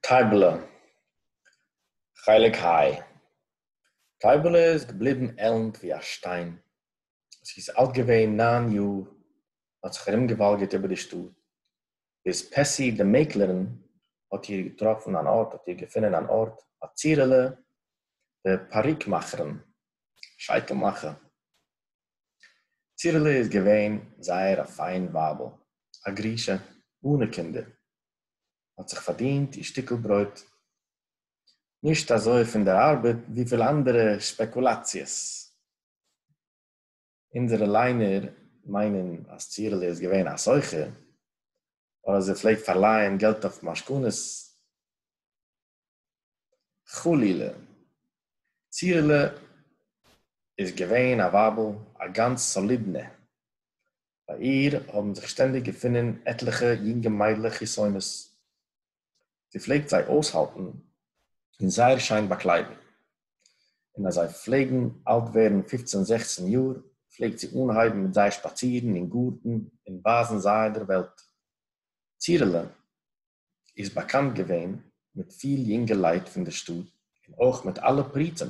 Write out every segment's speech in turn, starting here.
טייבעלע, חלק היי. טייבעלע איז געבליבן עלנט ווי א שטיין. זי איז אלט געווען נײַן יאר און האט זיך ארומגעוואלגערט איבער די שטאט, ביז פעסי די מעקלערין האט איר געטראפן אן ארט, האט איר געפונען אן ארט ביי צירעלע די פאריקמאכערין, שייטל מאכער. צירלע איז געווען זייער א פיין ווייבל, א גרושה אנע קינדער, האט זיך פארדינט איר שטיקל ברויט, נישט אזוי פון דער ארבעט וויפיל אנדערע שפעקולאציעס. אונזערע ליינער מיינען אז צירלע איז געווען א סוחר, אדער זי פלעגט פארלייען געלט אויף משכונות. חלילה. ציהלע איז געווען א ווייבל א גאנץ סאלידנע. ביי איר האבן זיך שטענדיג געפונען עטליכע יונגע מיידלעך חתונות. זי פלעגט זיי אויסהאלטן און זייער שיין באקליידן. און אז זיי פלעגן אלט ווערן פופצן זעכצן יאר פלעגט זי אנהייבן מיט זיי שפאצירן אין גארטן און ווייזן זיי דער וועלט. ציהלע. איז באקאנט געווען מיט פיל יונגעלייט פון די שטאט און אויך מיט אלע פריצים,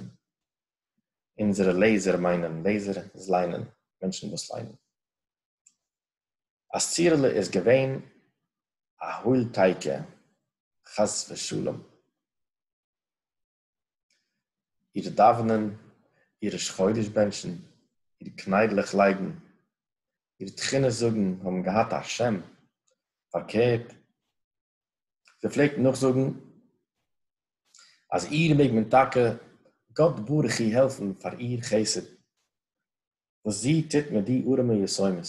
אונזערע לעזער מיינען לעזער איז ליינען, מענטשן וואס ליינען. אז צירעלע איז געווען א הוילטייקע חס ושלום. איר דאַװנען, איר ראש-חודש בענטשן, איר קנײדלעך לײגן, איר תּחינה זאָגן האָבן געהאַט אַ שם, פֿאַרקערט, זי פֿלעגט נאָכזאָגן, אַז איר מעג מען טאַקע, גאָט-ברוך-הוא, העלפֿן פֿאַר איר חסד. וואס זי טוט מיט די ארעמע יתומות.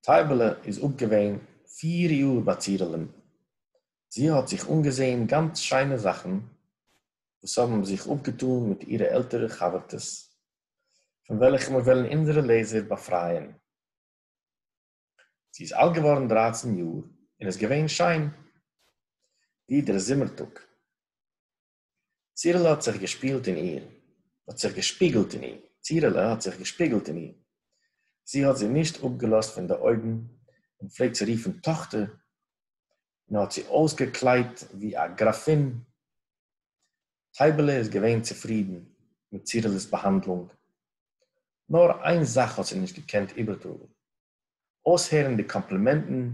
טייבעלע איז אפ געווען פיר יאר ביי צירלען, זי האט זיך אנגעזעהן גאנץ שיינע זאכן וואס האבן זיך אפגעטאן מיט אירע עלטערע חבר'טעס, פון וועלכע מיר וועלן אונזערע לעזער באפרייען. זי איז אלט געווארן דרייצן יאר און איז געווען שיין ווי דער זומער טאג. צירלע האָט זיך געשפּילט אין איר, האָט זיך געשפּיגלט אין איר, צירלע האָט זיך געשפּיגלט אין איר. זי האָט זי נישט אָפּגעלאָזט פֿון די אױגן און פֿלעגט זי רופֿן טאָכטער, און האָט זי אױסגעקלײדט װי אַ גראַפֿין. טײַבעלע איז געװען צופֿרידן מיט צירלעס באַהאַנדלונג. נאָר אײן זאַך האָט זי נישט געקענט איבערטראָגן, אויסהערן די קאמפלימענטן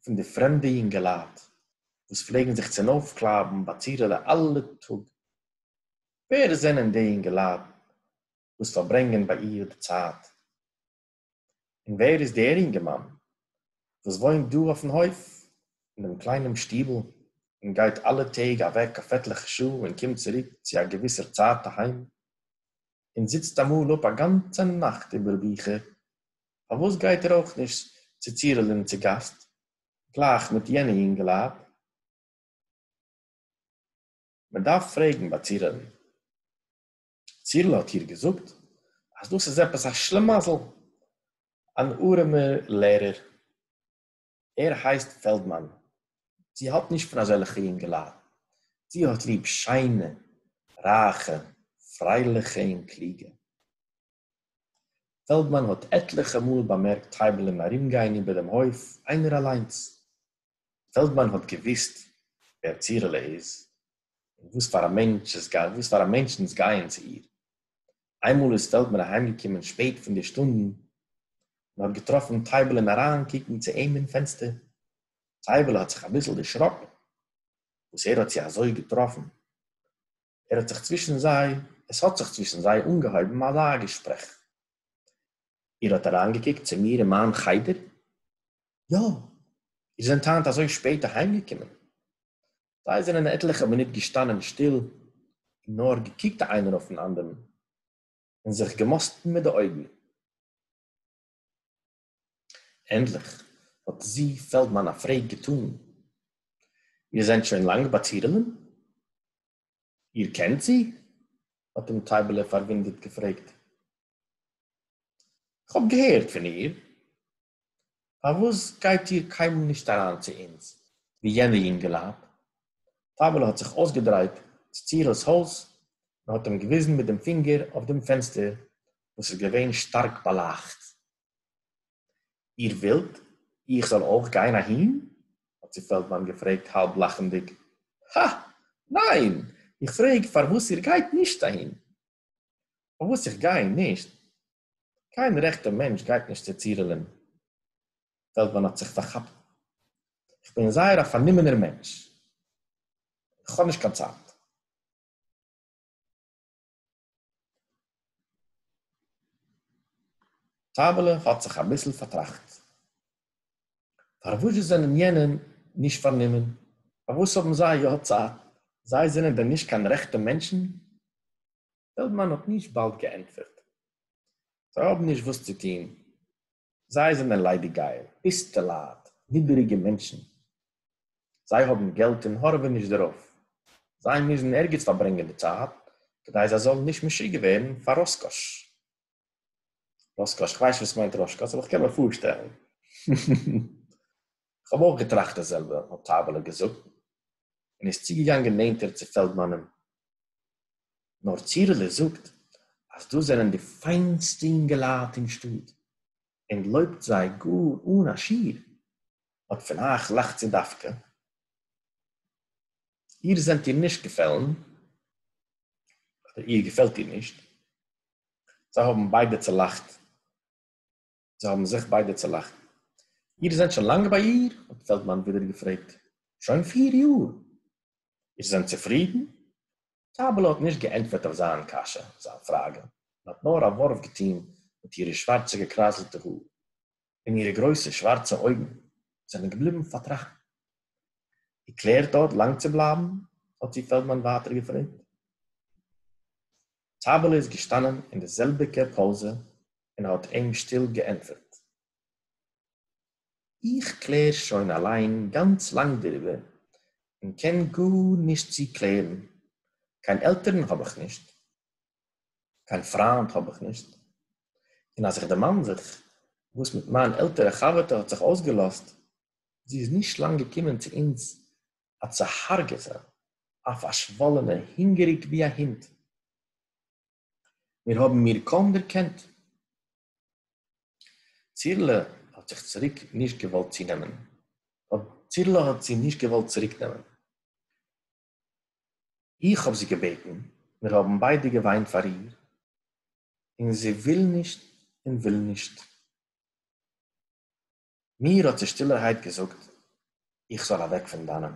פון די פרעמדע יונגעלייט וואס פלעגן זיך צונויפקלייבן ביי צירעלע אלע טאג. ווער זענען די יונגעלייט וואס פארברענגען ביי איר די צייט? און ווער איז דער יונגערמאן וואס וואוינט דא אויפן הויף אין דעם קליינעם שטיבל און גייט אלע טעג אוועק אויף עטליכע שעה און קומט צוריק צו א געוויסער צייט אהיים? און זיצט אמאל אפ א גאנצע נאכט איבער ביכער, פארוואס גייט ער אויך נישט צו צירלען צו גאסט גלייך מיט יענע יונגעלייט? מען דארף פרעגן ביי צירלען. צירל האט איר געזאגט אז דאס איז עפעס א שלימאזל, אן ארעמער לערער. ער הייסט פעלדמאן. זי האלט נישט פון אזעלכע יונגעלייט. זי האט ליב שיינע, רייכע, פרייליכע און קלוגע. פעלדמאן האט עטליכע מאל באמערקט טייבלען ארומגיין איבער דעם הויף איינער אליינס. פעלדמאן האט געוואוסט ווער צירלע איז און וואס פאר א מענטשנס גייען צו איר. איינמאל איז פעלדמאן אהיימגעקומען שפעט פון די שטונדן, און האט געטראפן טייבעלען אריינקוקן צו אים אין פענסטער. טייבעלע האט זיך אביסל דערשראקן וואס ער האט זי אזוי געטראפן. ער האט זיך צווישן זיי, עס האט זיך צווישן זיי אנגעהויבן אזא געשפרעך. איר האט אריינגעקוקט צו מיר אין מיין חדר? יא. איר זענט היינט אזוי שפעט אהיימגעקומען? זיי זענען עטליכע מינוט געשטאנען שטיל און נאר געקוקט איינער אויפן אנדערן און זיך געמאסטן מיט די אויגן. ענדליך האט זי פעלדמאן א פרעג געטאן, איר זענט שוין לאנג ביי צירלען? איר קענט זי? האט אים טייבעלע פארוואונדערט געפרעגט. כ'האב געהערט פון איר, פארוואס גייט איר קיינמאל נישט אריין צו אונז ווי יענע יונגעלייט? פאוועלע האט זיך אויסגעדרייט צו צירל'ס הויז און האט אים געוויזן מיט דעם פינגער אויף דעם פענסטער וואס איז געווען שטארק באלייכט. איר ווילט איך זאל אויך גיין אהין? האט זי פעלדמאן געפרעגט האלב לאכנדיג. הא! ניין! איך פרעג פארוואס איר גייט נישט אהין. און וואס איך גיי נישט, קיין רעכטע מענטש גייט נישט צו צירילען וועלט מען האט זיך פארכאפט, איך בין זייער א פארנומענער מענטש, איך האב נישט קיין צייט. טייבעלע האט זיך אביסל פארטראכט, פארוואזשע זענען יענע נישט פארנומען, פארוואס האבן זיי יא צייט, זיי זענען דען נישט קיין רעכטע מענטשן? פעלדמאן האט נישט באלד געענטפערט. זיי האבן נישט וואס צו טון, זיי זענען ליידיגגייער, פיסטעלייט, נידעריגע מענטשן. זיי האבן געלט און הארעווען נישט דערויף. זיי מוזן ערגעץ פארברענגען די צייט, כדי זיי זאלן נישט משוגע ווערן פאר ראסקאש. ראשקאש, איך ווייס נישט וואס מיינט ראשקאש, אבער איך קען מיר פארשטעלן. איך האב אויך געטראכט די זעלבע, האט טייבעלע געזאגט, און איז צוגעגאנגען נענטער צו פעלדמאנען. נאר צירלע זאגט, אז דאס זענען די פיינסטע אינגעלייט אין שטאט, און לויבט זיי גאר אן א שיעור. אט פון אייך לאכט זי דווקא. איר זענט איר נישט געפעלן, אדער איר געפעלט איר נישט, זיי האבן ביידע צולאכט. זיי האבן זיך ביידע צולאכט. איר זענט שוין לאנג ביי איר? האט פעלדמאן ווידער געפרעגט. שוין פיר יאר. איר זענט צופרידן? טייבעלע האט נישט געענטפערט אויף זיין קשיא, זיין פראגע, און האט נאר א ווארף געטון מיט אירע שווארצע געקרייזלטע האר. און אירע גרויסע שווארצע אויגן זענען געבליבן פארטראכטן. איר קלערט דארט לאנג צו בלייבן? האט זי פעלדמאן ווייטער געפרעגט. טייבעלע איז געשטאנען אין די זעלביגע פאזע און האט אים שטיל געענטפערט. איך קלער שוין אליין גאנץ לאנג דעריבער, און קען גארנישט צוקלערן. קיין עלטערן האב איך נישט. קיין פריינד האב איך נישט, און אז איך דערמאן זיך וואס מיט מיין עלטערע חבר'טע האט זיך אויסגעלאזט, זי איז נישט לאנג געקומען צו אונז א צוהארגעטע, א פארשוואלענע, הונגעריג ווי א הונט. מיר האבן איר קוים דערקענט. צירלע האט זיך צוריק נישט געוואלט צונעמען, צירלע האט זי נישט געוואלט צוריקנעמען. איך האָב זי געבעטן, מיר האָבן ביידע געוויינט פאַר איר, און זי וויל נישט און וויל נישט. מיר האָט זי שטילערהייט געזאָגט, איך זאָל אַוועק פון דאַנען.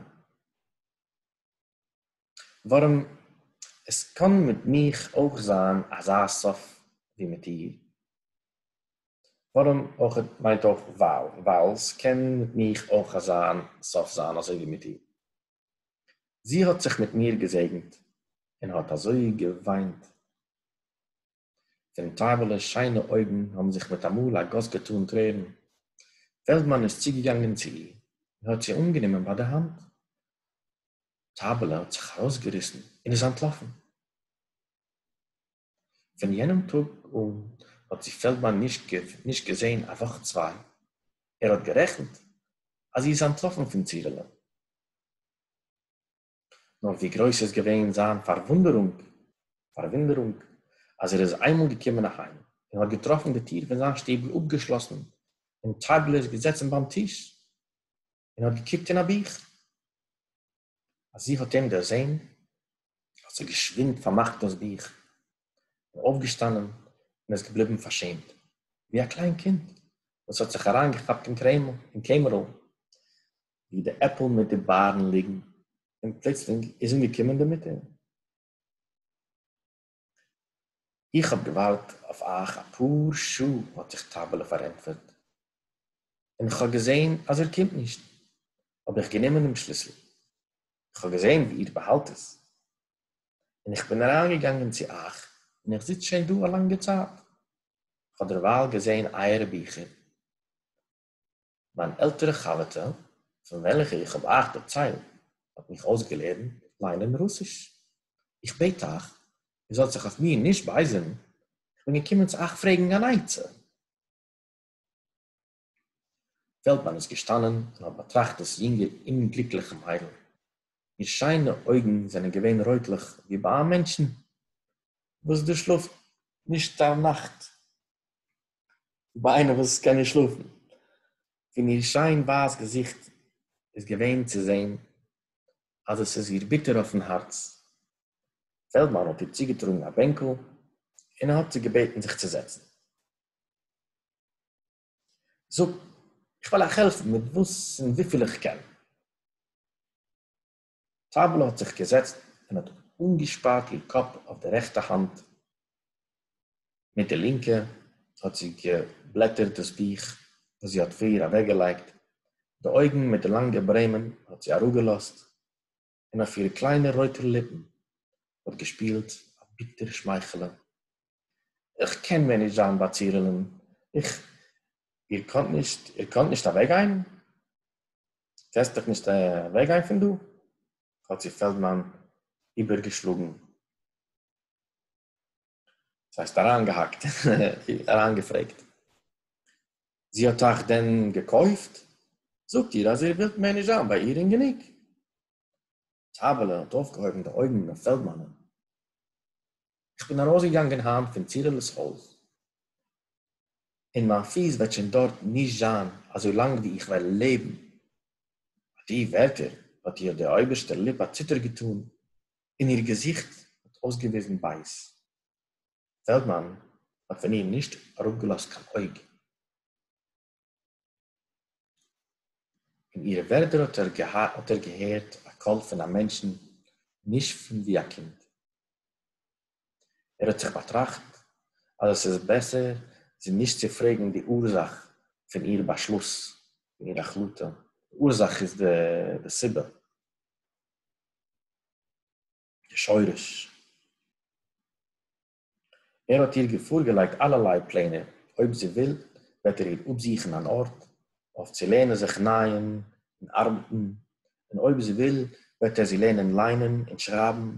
וואָרעם עס קאָן מיט מיך אויך זיין אַזאַ סוף ווי מיט איר. וואָרעם אויך מיינט אויך ווייל, ווייל ס'קען מיט מיך אויך אַזאַ סוף זיין אַזוי ווי מיט איר. זי האָט זיך מיט מיר געזעגנט און האָט אַזױ געװײנט, פֿון טײַבעלעס שײנע אױגן האָבן זיך מיט אַ מאָל אַ גאָס געטאָן טרערן. פֿעלדמאַן איז צוגעגאַנגען צו איר און האָט זי אָנגענומען בײַ דער האַנט. טײַבעלע האָט זיך אַרױסגעריסן און איז אַנטלאָפֿן. פון יענעם טאג אן האט זי פעלדמאן נישט נישט געזען א וואך צוויי, ער האט גערעכנט אז זי איז אנטלאפן פון צירלען. נאר ווי גרויס איז געווען זיין פארוואונדערונג פארוואונדערונג אז ער איז איינמאל געקומען אהיים און האט געטראפן די טיר פון זיין שטעבל אפגעשלאסן און טייבלער געזעצן ביים טיש, און האָט געקוקט אין אַ בוך. אַז זי האָט אים דערזען, האָט זי געשווינד פֿאַרמאַכט דאָס בוך, איז אויפֿגעשטאַנען און איז געבליבן פֿאַרשעמט, ווי אַ קליין קינד, וואָס האָט זיך אַרײַנגעכאַפּט אין קרעמל, אין קעמערל, וווּ די עפּל מיט די באַרן ליגן, און פּלוצלינג איז אָנגעקומען די מוטער. איך האָב געוואַרט אויף אײַך אַ פּאָר שעה, האָט זיך טײַבעלע פֿאַרענטפֿערט, און כ'האָב געזען, אַז איר קומט נישט, האָב איך גענומען דעם שליסל. איך האָב געזען, ווי איר באַהאַלט עס, און איך בין אַרײַנגעגאַנגען צו אײַך, און איך זיץ שוין דאָ אַ לאַנגע צײַט. כ'האָב דערווײַל געזען אײַערע ביכער. מיין עלטערע חבר'טע, פון וועלכע איך האב אייך דערציילט, האט מיך אויסגעלערנט ליינען רוסיש. איך בעט אייך, איר זאלט זיך אויף מיר נישט בייזערן, איך בין געקומען צו אייך פרעגן אן עצה. פעלדמאן איז געשטאנען און האט באטראכט דאס יונגע אומגליקליכע מיידל. איר שיינע אויגן זענען געווען רויטלעך ווי ביי א מענטשן וואס דערשלאפט נישט א נאכט. ביי איינער וואס קען נישט שלאפן, פון איר שיין ווייס געזיכט איז געווען צו זען אז עס איז איר ביטער אויפן הארץ, פעלדמאן האט איר צוגעטראגן א בענקל און האט איר געבעטן זיך צו זעצן. זאג, איך וועל אייך העלפן מיט וואס און וויפיל איך קען. טאַבלע האָט זיך געזעצט און האָט אָנגעשפּאַרט איר קאָפּ אויף די רעכטע האַנט, מיט די לינקע האָט זי געבלעטערט דאָס בוך, וואָס זי האָט פֿריִער אַוועקגעלייגט, די אויגן מיט די לאַנגע ברעמען האָט זי אַראָפּגעלאָזט, און אויף אירע קליינע רויטע ליפּן האָט געשפּילט אַ ביטער שמייכעלע. איך קען מער נישט זיין ביי צירילען, איך, איר קאָנט נישט, איר קאָנט נישט אַוועקגיין? קענסט דיך נישט אַוועקגיין פון דאָ? האָט זי פעלדמאַן איבערגעשלאָגן, ס'הייסט אַריינגעהאַקט, אַריינגעפרעגט. זי האָט אייך דען געקויפט? זאָגט איר, אַז איר ווילט מער נישט זיין ביי איר און גענוג. טײַבעלע האָט אױפֿגעהױבן די אױגן אױף פֿעלדמאַנען. איך בין אַרױסגעגאַנגען הײַנט פֿון צירעלעס הױז, און מײַן פֿיס װעט שױן דאָרט נישט זײַן אַזױ לאַנג װי איך װעל לעבן. בײַ די װערטער האָט איר דער אױבערשטער ליפּ אַ ציטער געטאָן און איר געזיכט האָט אױסגעװיזן בײז. פֿעלדמאַן האָט פֿון איר נישט אַראָפּגעלאָזט קײן אױג. אין אירע ווערטער האט ער האט ער געהערט א קול פון א מענטשן נישט פון ווי א קינד. ער האט זיך באטראכט אז עס איז בעסער זי נישט צו פרעגן די אורזאך פון איר באשלוס, פון איר החלטה, די אורזאך איז די סיבה, די שורש. ער האָט איר געפֿאָרגעלײגט אַלערלײ פּלענער, אױב זי װיל, װעט ער איר אָפּזוכן אַן אָרט, אױף צו לערנען זיך נײען און אַרבעטן, און אױב זי װיל, װעט ער זי לערנען לײענען און שרײַבן,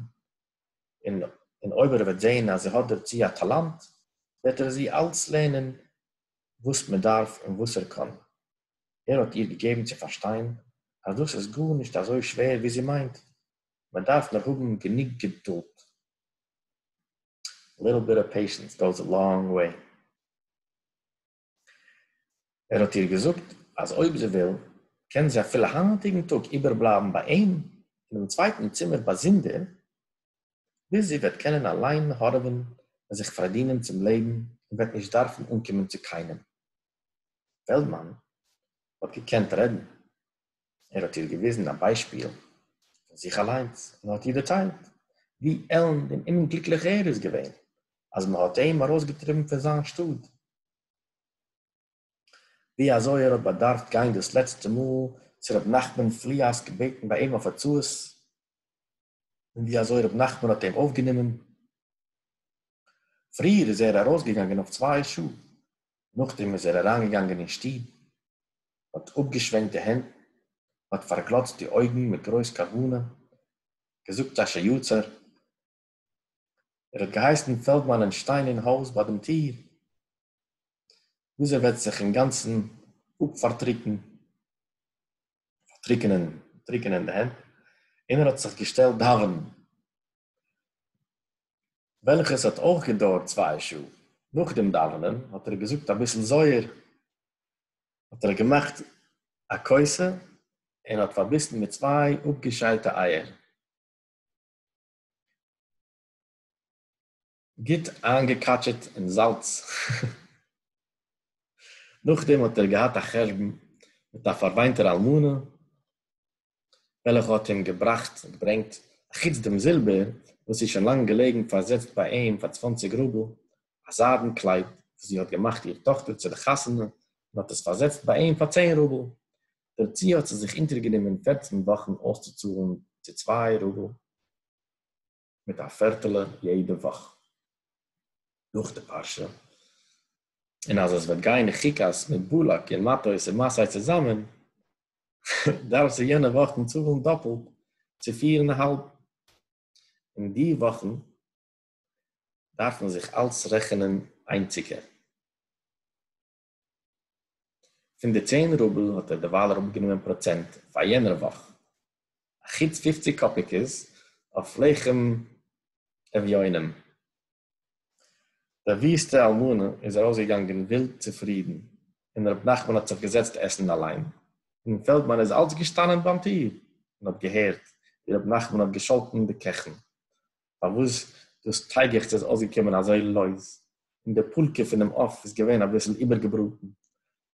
און אױב ער װעט זען, אַז זי האָט דערצו אַ טאַלאַנט, װעט ער זי אַלץ לערנען, װאָס מע דאַרף און װאָס ער קאָן. ער האָט איר געגעבן צו פֿאַרשטײן, אַז דאָס איז גאָרנישט אַזױ שװער, װי זי מײנט, מע דאַרף נאָר האָבן גענוג געדולד. ליטל ביט אוו פעישענס גאוס א לאנג וועי. ער האט איר געזאגט אז אויב זי וויל קען זי אפילו היינטיגן טאג איבערבלייבן ביי אים אינעם צווייטן צימער באזונדער, ביז זי וועט קענען אליין הארעווען און זיך פארדינען צום לעבן און וועט נישט דארפן אנקומען צו קיינעם. פעלדמאן האט געקענט רעדן. ער האט איר געוויזן א ביישפיל פון זיך אליינס און האט איר דערציילט ווי עלנד און אומגליקליך ער איז געווען אז מען האט אים ארויסגעטריבן פון זיין שטאט, ווי אזוי ער האט באדארפט גיין דאס לעצטע מאל צו ר' נחמן פליאסק בעטן ביי אים אויף עצות, און ווי אזוי ר' נחמן האט אים אויפגענומען. פריער איז ער ארויסגעגאנגען אויף צוויי שעה, נאכדעם איז ער אריינגעגאנגען אין שטוב, מ'האט אפגעשווענקט די הענט, מ'האט פארגלאצט די אויגן מיט גרויס כוונה, געזאגט א ש יצר, ער האט געהייסן פעלדמאנען שטיין אין הויז ביי דעם טיר, ביז ער וועט זיך אינגאנצן אפפארטריקן, פארטריקענען, טריקענען די הענט, און ער האט זיך געשטעלט דאווענען. וועלכעס האט אויך געדויערט צוויי שעה, נאך דעם דאווענען האט ער געזאגט אביסל זוהר, האט ער געמאכט א כוסה און האט פארביסן מיט צוויי אפגעשיילטע אייער, גוט איינגעקאטשעט אין זאלץ, נאכדעם האט ער געהאט א חשבון מיט א פארוויינטער אלמנה, וועלכע האט אים געבראכט און געברענגט א חוץ דעם זילבער וואס איז שוין לאנג געלעגן פארזעצט ביי אים פאר צוואנציג רובל, א זיידן קלייד וואס זי האט געמאכט איר טאכטער צו די חתונה און האט עס פארזעצט ביי אים פאר צען רובל, דערצו האט זי זיך אונטערגענומען פערצן וואכן אויסצוצאלן צו צוויי רובל. מיט א פערטעלע יעדע וואך נאך די פרשה, און אז עס וועט גיין אין חוקת מיט בלק און מטות און מסעי צוזאמען, דארפסטו יענע וואכן צאלן דאפלט צו פיר און א האלב, און די וואכן דארפן זיך אלץ רעכענען איינציקע. פון די צען רובל האט ער דערווייל אראפגענומען פראצענט פאר יענער וואך, אחוץ פופציג קאפיקעס אויף לחם אביונים. די וויסטע אלמנה איז ארויסגעגאנגען ווילד צופרידן, און ר' נחמן האט זיך געזעצט עסן אליין, און פעלדמאן איז אלץ געשטאנען ביים טיר און האט געהערט ווי ר' נחמן האט געשאלטן די קעכן, פארוואס דאס טייגעכץ איז אויסגעקומען אזוי לויז, און די פולקע פונעם עוף איז געווען אביסל איבערגעבראטן.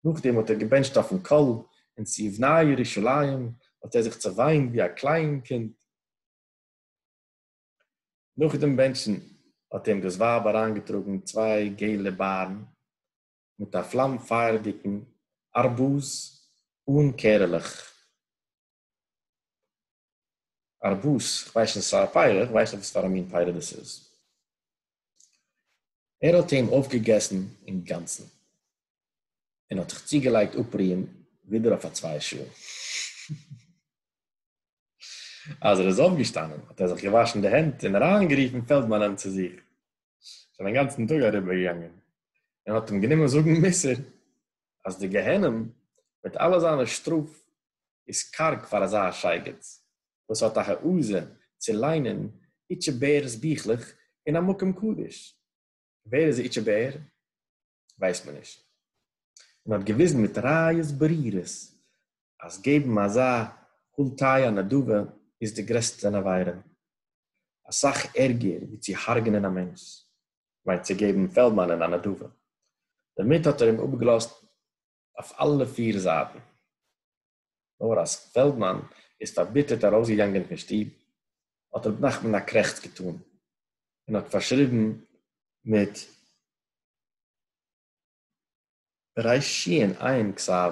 נאכדעם האט ער געבענטשט אויפן קול, און צו יבנה ירושלים האט ער זיך צעוויינט ווי א קליין קינד. נאכדעם בענטשן האט אים דאס ווייב אריינגעטראגן צוויי געלע בארן, מיט אַ פֿלאַם-פֿײַערדיקן אַרבוז אָן קערעלעך. אַרבוז? איך ווייס נישט, ס'איז אַ פּירה, איך ווייס ניט וואָס פֿאַר אַ מין פּירה דאָס איז. ער האָט אים אויפֿגעגעסן אין גאַנצן און האָט זיך צוגעלייגט אָפּרוען ווידער אויף אַ צוויי שעה. אַז ער איז אויפֿגעשטאַנען, האָט ער זיך געוואַשן די הענט און אַרײַנגערופֿן פֿעלדמאַנען צו זיך. שוין א גאנצן טאג אריבער געגאנגען, און האט אים גענומען זאגן מוסר אז די גיהנום מיט אלע זיינע שטראף איז קארג פאר אזא שייגעץ וואס האט א העזה צו ליינען איטשע בער'ס ביכלעך אין א מקום קדוש. ווער איז איטשע בער? ווייסט מען נישט. און האט געוויזן מיט ראיות ברורות אז געבן אזא כל תהיה נדבה איז די גרעסטע פון עבירה, אסאך ערגער ווי צו הרג'נען א מענטש, כ'מיין צו געבן פעלדמאנען א נדבה. דערמיט האט ער אים אפגעלאזט אויף אלע פיר זייטן, נאר אז פעלדמאן איז פארביטערט ארויסגעגאנגען פון שטוב, האט ר' נחמן א קרעכץ געטאן, און האט פארשריבן מיט רעשי'ן עיין כסב,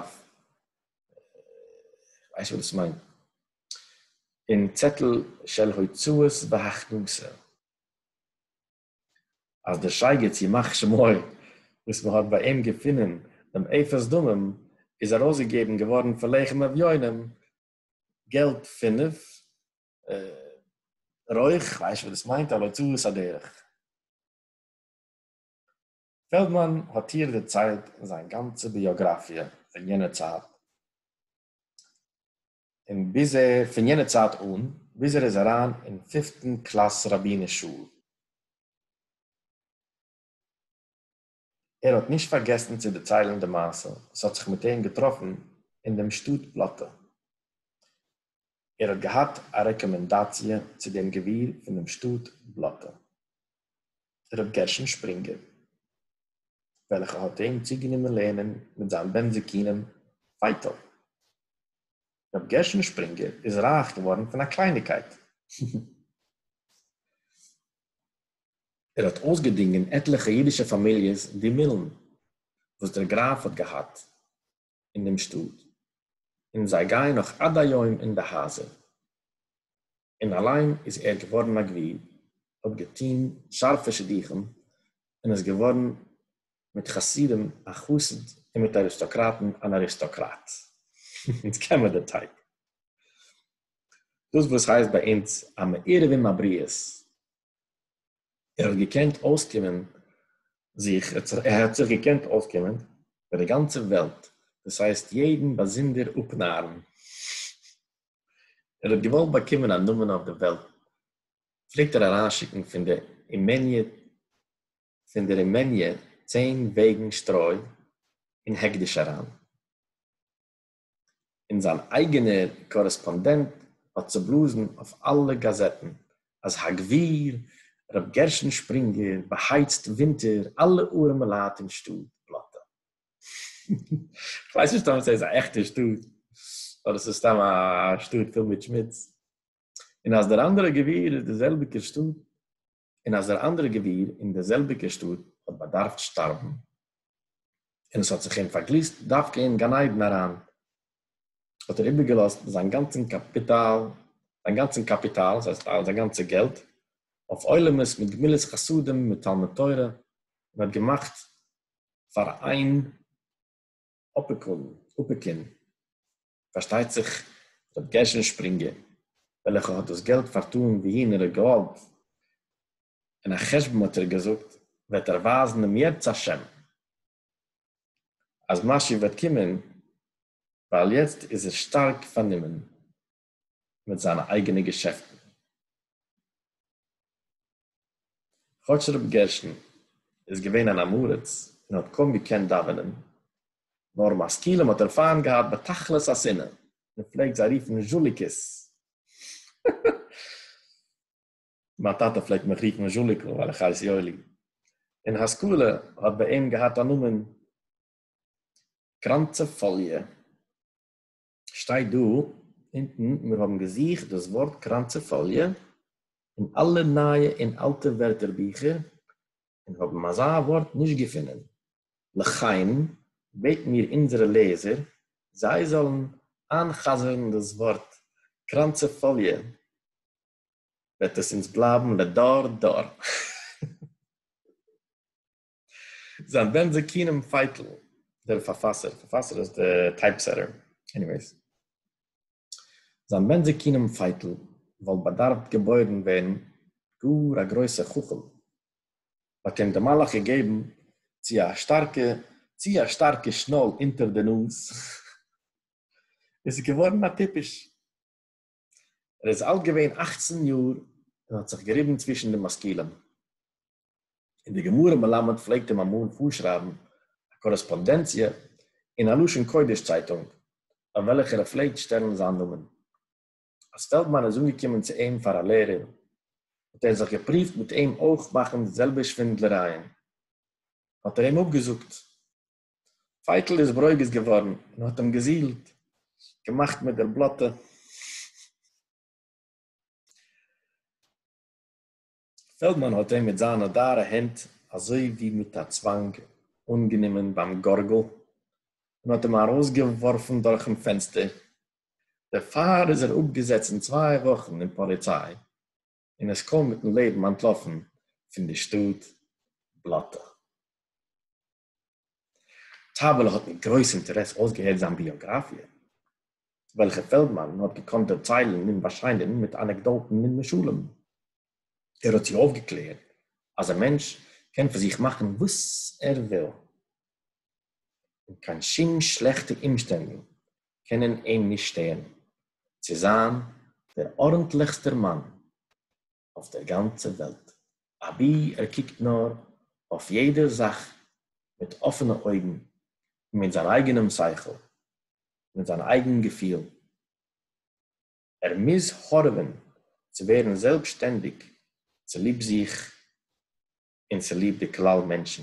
כ'ווייס נישט וואס דאס מיינט, אין צעטל של הוצאות והכנסה. אז דער שייגעץ ימח שמו וואס מען האט ביי אים געפונען דעם אפס דמים איז ארויסגעגעבן געווארן פאר לחם אביונים געלט פינף רויך, כ'ווייס נישט וואס דאס מיינט אבער צא ועשה דרך. פעלדמאן האט איהר דערציילט זיין גאנצע ביאגראפיע פון יענע צייט. און ביז ער, פון יענע צייט אן, ביז ער איז אריין אין פיפטן קלאס רבינ'ס שול, ער האט נישט פארגעסן צו דערציילן די מעשה וואס האט זיך מיט אים געטראפן אין דעם שטאט פלאטע. ער האט געהאט א רעקאמענדאציע צו דעם גביר פון דעם שטאט פלאטע. ר' גרשון שפרינגער, וועלכע האט אים צוגענומען לערנען מיט זיין בן זקונים ווייטאג. ר' גרשון שפרינגער איז רייך געווארן פון א קלייניקייט. ער האט אויסגעדינגען עטליכע אידישע פאמיליעס די מילן וואס דער גראף האט געהאט. אין דעם שטאט, און זיי גייען נאך עד היום אין די הייזער, און אליין איז ער געווארן א גביר, האט געטון שארפע שידוכים, און איז געווארן מיט חסידים א חסיד און מיט אריסטאקראטן אן אריסטאקראט. אונז קען מיר די טייפ. דאס וואס הייסט ביי אונז א מעירב אין מעבריות ער האט געקענט אויסקומען זיך, ער האט זיך געקענט אויסקומען מיט די גאנצע וועלט, דאס הייסט יעדן באזונדער אפנארן, ער האט געוואלט באקומען א נאמען אויף די וועלט, פלעגט ער אריינשיקן פון דער אימעניע צען וועגן שטרוי אין העקדיש אריין. און זיין אייגענער קארעספאנדענט האט צובלאזן אויף אלע גאזעטן אז הגביר ר' גרשון שפרינגער באהייצט ווינטער אלע ארעמעלייט אין שטאט בלאטע. כ'ווייס נישט טאמער סאיז א עכטע שטאט אדער סאיז סתם א שטאט פול מיט שמוץ, און אז דער אנדערע גביר איז דער זעלביגער שטאט. און אַז דער אַנדערער גבֿיר אין דער זעלביקער שטאָט האָט באַדאַרפֿט שטאַרבן, און עס האָט זיך אים פֿאַרגליסט דווקא אין גן-עדן אַרײַן, האָט ער איבערגעלאָזט זײַן גאַנצן קאַפּיטאַל, זײַן גאַנצן קאַפּיטאַל, ס'הײסט, זײַן גאַנצע געלט, אױף עולמות, מיט גמילות-חסדים, מיט תּלמוד-תּורה, און האָט געמאַכט פֿאַר אײן, אפיקון, אפיקין, פארשטייט זיך ר' גרשון שפרינגער, וועלכע האט דאס געלט פארטאן וואוהין ער האט געוואלט, און א חשבון האט ער געזאגט וועט ער ווייזן אם ירצה השם אז משיח וועט קומען, ווייל יעצט איז ער שטארק פארנומען. מיט זיינע אייגענע געשעפטן. כאטש רבי גרשון איז געווען אן אמאראץ און האט קוים געקענט דאווענען, נאר משכילים האט ער פיינט געהאט בתכלית השנאה, און פלעגט זיי רופן זשוליקעס. מיין טאטע פלעגט מיך רופן זשוליקל ווייל איך הייס יואלי. און השכלה האט ביי אים געהאט א נאמען קראנצע פאליע. שטייט דא אונטן, מיר האבן געזוכט דאס ווארט קראנצעפאליע אין אלע נייע און אלטע ווערטער ביכער און האבן אזא ווארט נישט געפונען, לכן בעטן מיר אונזערע לעזער זיי זאלן איינ'חזר'ן דאס ווארט קראנצעפאליע וועט עס אונז בלייבן לדור דור. זיין בן זקונים פייטל, דער פארפאסער, פארפאסער איז די טייפ סעטער, עניוועיס, זיין בן זקונים פייטל וואלט באדארפט געבוירן ווערן גאר א גרויסע חכם, האט אים די מלאך געגעבן צו א שטארקע, צו א שטארקע שנאל אונטער די נאז, איז ער געווארן א טיפש. ער איז אלט געווען אכצן יאר און האט זיך געריבן צווישן די משכילים. און דער גמרא מלמד פלעגט אים אמאל פארשרייבן א קארעספאנדענציע אין א לשון קודש צייטונג, ביי וועלכער ער פלעגט שטעלן זיין נאמען. אז פעלדמאן איז אנגעקומען צו אים פאר א לערער, האט ער זיך געפרואווט מיט אים אויך מאכן די זעלבע שווינדלערייען, האט ער אים אפגעזאגט. פייטל איז ברוגז געווארן און האט אים געזילט, געמאכט מיט דער בלאטע. פעלדמאן האט אים מיט זיינע דארע הענט אזוי ווי מיט א צוואנג אנגענומען ביים גארגל און האט אים ארויסגעווארפן דורכן פענסטער. דערפאר איז ער אפגעזעצן צוויי וואכן אין פאליציי און איז קוים מיטן לעבן אנטלאפן פון די שטאט בלאטע. טאַוועלע האָט מיט גרויס אינטערעס אויסגעהערט זײַן ביאָגראַפֿיע, וועלכע פֿעלדמאַן האָט געקאָנט דערציילן ניט באַשיינען מיט אַנעקדאָטן, ניט משלים. ער האָט זי אויפֿגעקלערט, אַז אַ מענטש קען פֿון זיך מאַכן וואָס ער וויל, און קיין שום שלעכטע אומשטענדן קענען אים נישט שטערן צו זײַן דער אָרנטלעכסטער מאַן. אויף דער גאנצער וועלט, אבי ער קוקט נאר אויף יעדע זאך מיט אפענע אויגן און מיט זיין אייגענעם שכל, מיט זיין אייגן געפיל. ער מוז הארעווען צו ווערן זעלבסשטענדיג צוליב זיך און צוליב די כלל מענטשן.